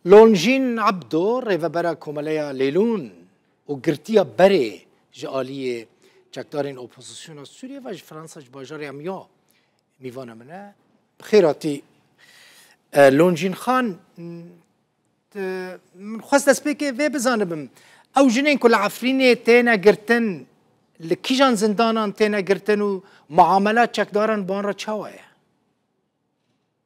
Lonjîn Ebdo rêvebera Komeleya Lêlûn û girtiya berê ji aliyê çekdarên opozisyona Sûriyê ve ji Fransa ji bajarê Amiens mîvana min e. Bi xêr hatî Lonjîn Xan. Min xwest destpêkê vê bizanibim. Ew jinên ku li Efrînê têne girtin li kîjan zindanan têne girtin û miamela çekdaran bi wan re çawa ye?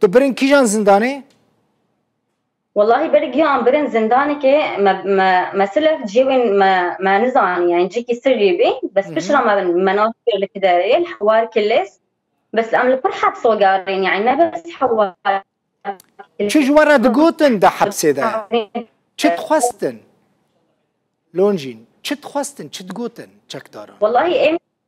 Tu birin kîjan zindanê? Wellahî ber giyan birin zindanekê me silef ciyê wê me nizanî yani cîkî sirrî bî bes pişra me me nas kir li kiderê li hewar kilês bes em li pir hepso garên yani ne bes hewar Çi ji we re digotin de hepsê de çi dixwestin? Lonjîn çi dixwestin çi digotin çekdaran? Wellahî em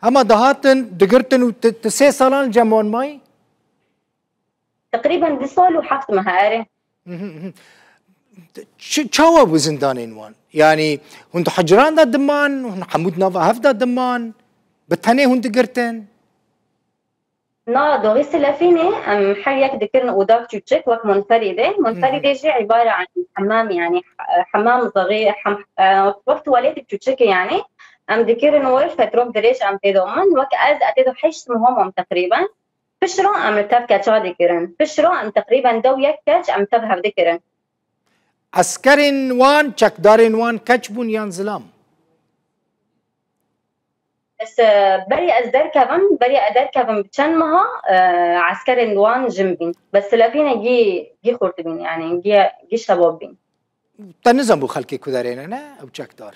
Hema dihatin digirtin û tu sê salan li cem wan mayî? Teqrîben du sal û heft mehe ere. Çawa bû zindanên wan? Yanî hûn di hicran de diman, hûn hemû di nava hev de diman, bi tenê hûn digirtin? Na doxî silefînê em her yek dikirin odak çûçik wek munferîdê. Munferîdê jî îbare an hemam yanî hemam zerî wek tuwaletîk çûçikê yanî em dikirin wir fetrok dirêj em têdo min wek ez e têdo heşt muhamam teqrîben. Pişro em li tev keça dikirin. Pişro em teqrîben dew yek keç em tev hev dikirin. Eskerên wan, çekdarên wan keç bûn yan zilam? Ez berê ez derkevim, berê ez derkevim bi çend meha e, eskerên wan jim bîn. Bes telefînê gî gî xurt bîn yani gî gî şebab bîn. Te nizan bû xelkê ku derêne ne ew çekdar.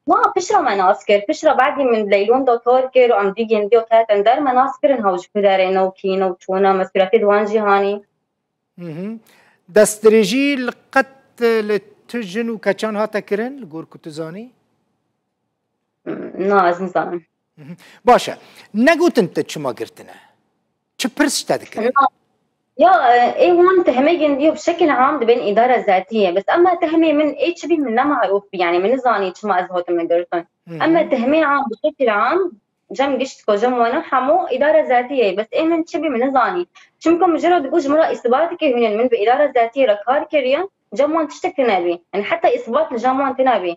Ma pişra me nas kir, pişra badî min leylon da tor kir û em dî gendiya ketin der me nas kirin hew ji ku derêne û kîne û çûne me suretê di wan jî hanî. Destdirêjî li qet li tu jin û keçan hate kirin li gor ku tu zanî? Na ez nizanim. Baş e. Negotin te çima girtine. Çi pirs te dikirin? Ya ê wan tehmegên diyo bi şekil am dibên îdara zatiye bes ema tehmê min ê çi bî min ne marûf bî yanî min nizanî çima ez hatime girtin. Ema tehmê am bi şekil am cem gişt ko cem wana hemû îdara zatiye bes ê min çi bî min nizanî. Çimka min ji ra digot ji min ra îsbateke hûnin min bi îdara zatiye re kar kiriye cem wan tiştekî nebî. Yanî heta îsbat li cem wan tênebî.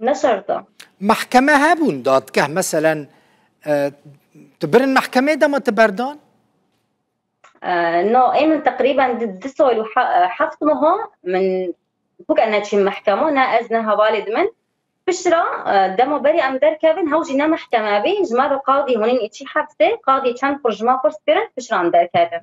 Ne şert e. Mehkeme hebûn dadgeh meselen tu birin mehkemê dema tu berdan? No, ê min teqrîben di sal û heft meha min bûk e neçîm mehkema ne ez ne hevalê di min. Pişra dema berê em derkevin hew jî ne mehkeme bê ji me re qadî hûnîn îçî hefsê qadî çend xur ji me xwers kirin pişran derkevin.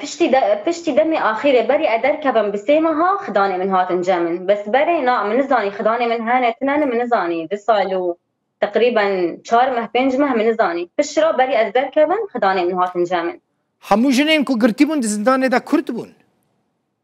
Piştî piştî demê axîrê berî e derkevim bi sê meha xidanê min hatin cem min. Bes berê na min nizanî xidanê min hene tune ne min nizanî di sal û teqrîben çar meh pênc meh min nizanî. Pişt re berî ez derkevim xidanê min hatin cem min. Hemû jinên ku girtîbûn di zindanê de kurd bûn.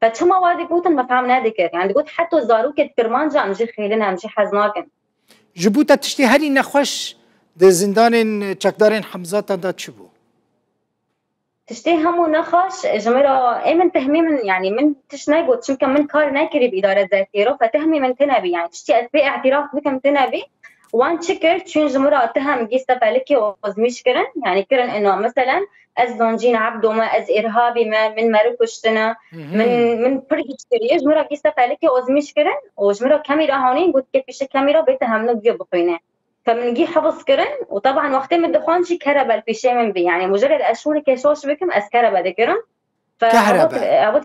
Te çima wa digotin me fehm nedikir. Yani digot heta zarokê di kirmanca em jî xêlin em jî hez nakin. Ji bo te tiştê herî nexweş di zindanên çekdarên Hemzatan de çi bû? Tiştê hemû nexweş ji min re ê min tehmî min yani min tişt negot çimka min kar nekirî bi îdare zerkê re xwe tehmî min tune bî yani tiştî ez pê îtiraf bikim tune bî Wan çi kir? Çûn ji min re Atiha Migîs Tepelikê ozmîş kirin, yanî kirin ina meselen ez Zoncîn Ebdo me, ez Îrhabî me, min meriv kuştine, min min pir hîç kiriye. Ji min re Gîs Tepelikê ozmîş kirin û ji min re kemî re hanîn got ke pîşe kemî re bête hemno giyo bixwîne. Ke min gî hifz kirin û teban wextê min dixwend jî kerebe li pîşê min bî. Yanî muje ger ez şûneke şoş bikim ez kerebe dikirim. Kerebe. Ew got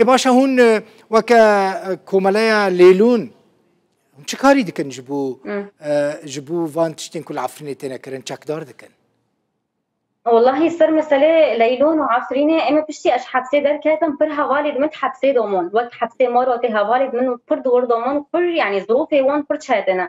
Ê baş e hûn weke komeleya lêlûn hûn çi karî dikin ji bo ji bo van tiştên ku li Efrînê têne kirin çekdar dikin? Wellahî ser meselê leylûn û Efrînê em ê piştî ez hepsê derketim pir hevalê di min di hepsê domon wek hepsê Marotê hevalê di min pir di wir domon pir yanî zirûfê wan pir çetine.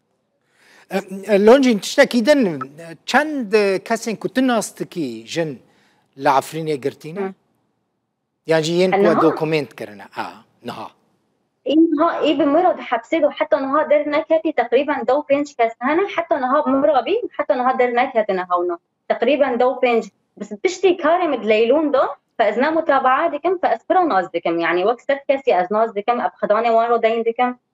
Loncîn tiştekî din çend kesên ku tu nas dikî jin li Efrînê girtîne? Yan jî yên ku dokumênt kirine a niha. Înha ê bi mira di hepsê de heta niha derneketî teqrîben dew pênc kes hene heta niha mira bî heta niha derneketine hewna teqrîben dew pênc piştî karê min leylûn da fe ez ne mutabaa dikim fe ez pira nas dikim yanî wek sed kesî ez nas dikim ev xidanê wan re deyn dikim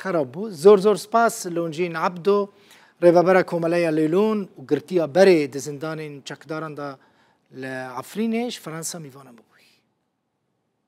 Xerab bû. Zor zor spas Loncîn Ebdo, Rêvebera Komeleya Lêlûn û girtiya berê di zindanên çekdaran de li Efrînê ji Fransa mîvanan bûbûyî.